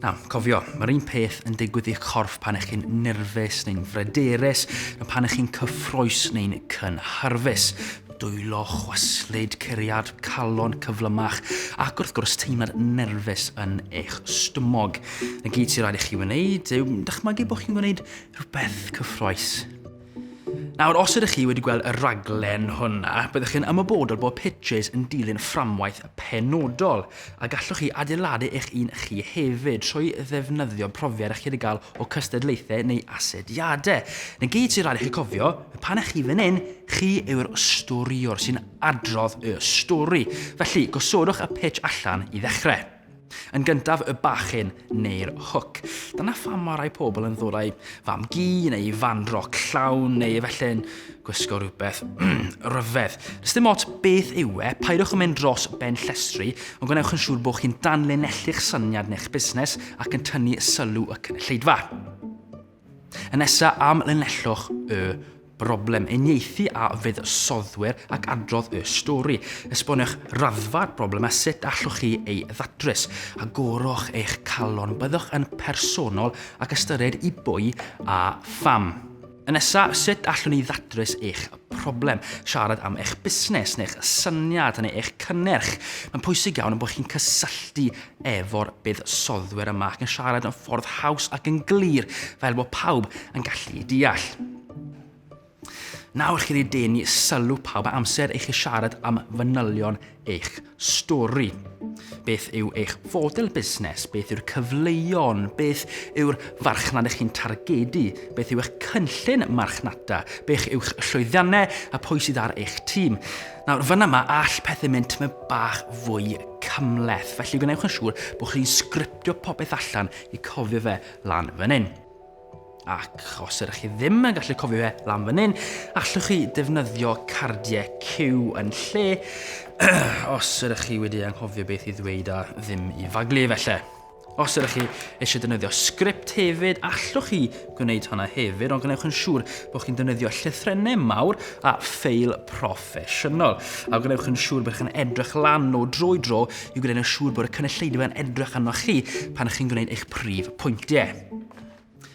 Nawr, cofio, mae'r un peth yn digwydd i'ch corff pan ych chi'n nerfus neu'n frederus, na pan ych chi'n cyffroes neu'n cynharfus. Dwylo, chwaslyd, curiad, calon cyflymach, ac wrth gwrs teimlad nerfus yn eich stumog. Y gyd sy'n rhaid i chi wneud yw dychmygu bod chi'n gwneud rhywbeth cyffroes. Nawr, os ydych chi wedi gweld y raglen hwnna, byddwch chi'n ymwybodol bod Pitches yn dilyn fframwaith penodol, a gallwch chi adeiladu eich un chi hefyd trwy ddefnyddio profiad ych chi wedi cael o cystadlaethau neu asediadau. Yn gyd sy'n rhaid i chi cofio, pan ych chi fan hyn, chi yw'r storiwr sy'n adrodd y stori. Felly, gosodwch y pitch allan i ddechrau. Yn gyntaf y bachyn neu'r hwc. Dyna pham mae rhai pobl yn ddod â'i fam-gu neu fan-roc llawn neu efallai'n gwisgo rhywbeth rhyfedd. Does dim ots beth yw e, paidwch yn mynd dros ben llestri, ond gwnewch yn siŵr bod chi'n danlinellu'ch syniad neu'ch busnes ac yn tynnu sylw y cynulleidfa. Yn nesa, amlinellwch y broblem, uniaethu a fuddsoddwyr ac adrodd y stori. Esboniwch raddfa'r broblem a sut allwch chi ei ddatrys. Agorwch eich calon, byddwch yn personol ac ystyried i bwy a pham. Yn nesa, sut allwn ni ddatrys eich problem? Siarad am eich busnes neu'ch syniad neu eich cynnyrch. Mae'n pwysig iawn bod chi'n cysylltu efo'r buddsoddwyr yma ac yn siarad yn ffordd haws ac yn glir fel bod pawb yn gallu ei deall. Nawr chi wedi denu sylw pawb a amser eich i siarad am fanylion eich stori. Beth yw eich fodel busnes? Beth yw'r cyfleuon? Beth yw'r farchnad ych chi'n targedu? Beth yw eich cynllun marchnata? Beth yw'ch llwyddiannau a pwy sydd ar eich tîm? Nawr, fan yma, all pethau mynd tyma bach fwy cymleth, felly gwnewch yn siŵr bod chi'n sgriptio popeth allan i cofio fe lan fan hyn. Ac os ydych chi ddim yn gallu cofio fe lan fan hyn, allwch chi defnyddio cardiau cyw yn lle, os ydych chi wedi anghofio beth i ddweud a ddim i faglu efallai. Os ydych chi eisiau defnyddio sgript hefyd, allwch chi gwneud hwnna hefyd, ond gwnewch yn siŵr bod chi'n defnyddio llythrennau mawr a ffeil proffesiynol. A gwnewch yn siŵr bod chi'n edrych lan o dro i dro i gwneud yn siŵr bod y cynulleidfa yn edrych arnoch chi pan chi'n gwneud eich prif pwyntiau.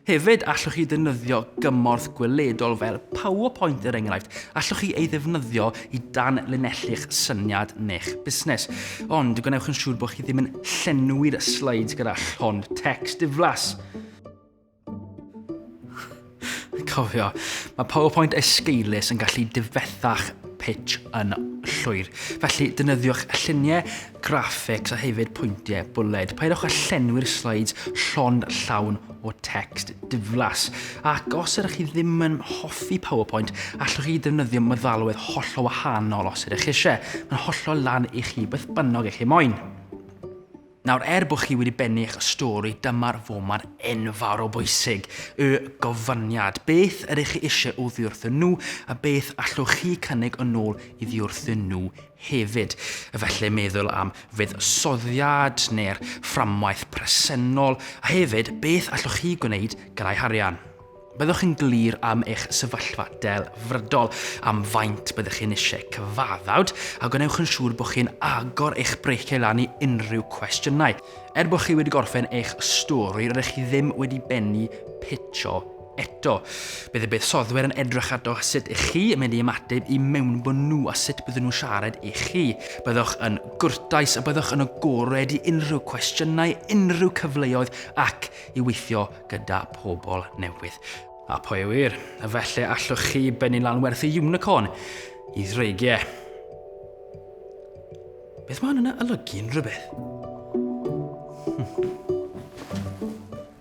Hefyd, allwch chi ddefnyddio gymorth gweledol fel PowerPoint er enghraifft. Allwch chi ei ddefnyddio i dan linellu'ch syniad neu'ch busnes. Ond gwnewch yn siŵr bod chi ddim yn llenwi'r slides gyda llond text diflas. Cofio, mae PowerPoint esgeulus yn gallu difethach pitch yn llwyr. Felly, defnyddiwch lluniau graphics a hefyd pwyntiau bwled. Peidiwch â llenwi'r slides llond llawn o text diflas. Ac os ydych chi ddim yn hoffi PowerPoint, allwch chi ddefnyddio meddalwedd hollol wahanol os ydych eisiau. Mae'n hollol lan i chi beth bynnag ych chi moyn. Nawr, er bod chi wedi bennu eich stori, dyma'r foment enfawr o bwysig, y gofyniad. Beth ydych chi eisiau oddi wrthyn nhw a beth allwch chi cynnig yn ôl iddi wrthyn nhw Hefyd, efallai meddwl am fuddsoddiad neu'r fframwaith presennol, a hefyd, beth allwch chi gwneud gyda'i harian. Byddwch chi'n glir am eich sefyllfa delfrydol, am faint byddwch chi'n eisiau cyfaddawd, a gwnewch yn siŵr bod chi'n agor eich breiciau lan i unrhyw cwestiynau. Er bod chi wedi gorffen eich stori, rydych chi ddim wedi bennu pitsio Eto, bydd y buddsoddwyr yn edrych ardo sut ych chi yn mynd i ymateb i mewnbwn nhw a sut bydden nhw'n siarad i chi. Byddwch yn gwrtais a byddwch yn agored i unrhyw cwestiynau, unrhyw cyfleoedd ac i weithio gyda pobl newydd. A pwy a ŵyr, efallai allwch chi bennu lan werth y unicorn i ddreigiau. Beth mae hwn yn olygu yn rhywbeth? Hmm.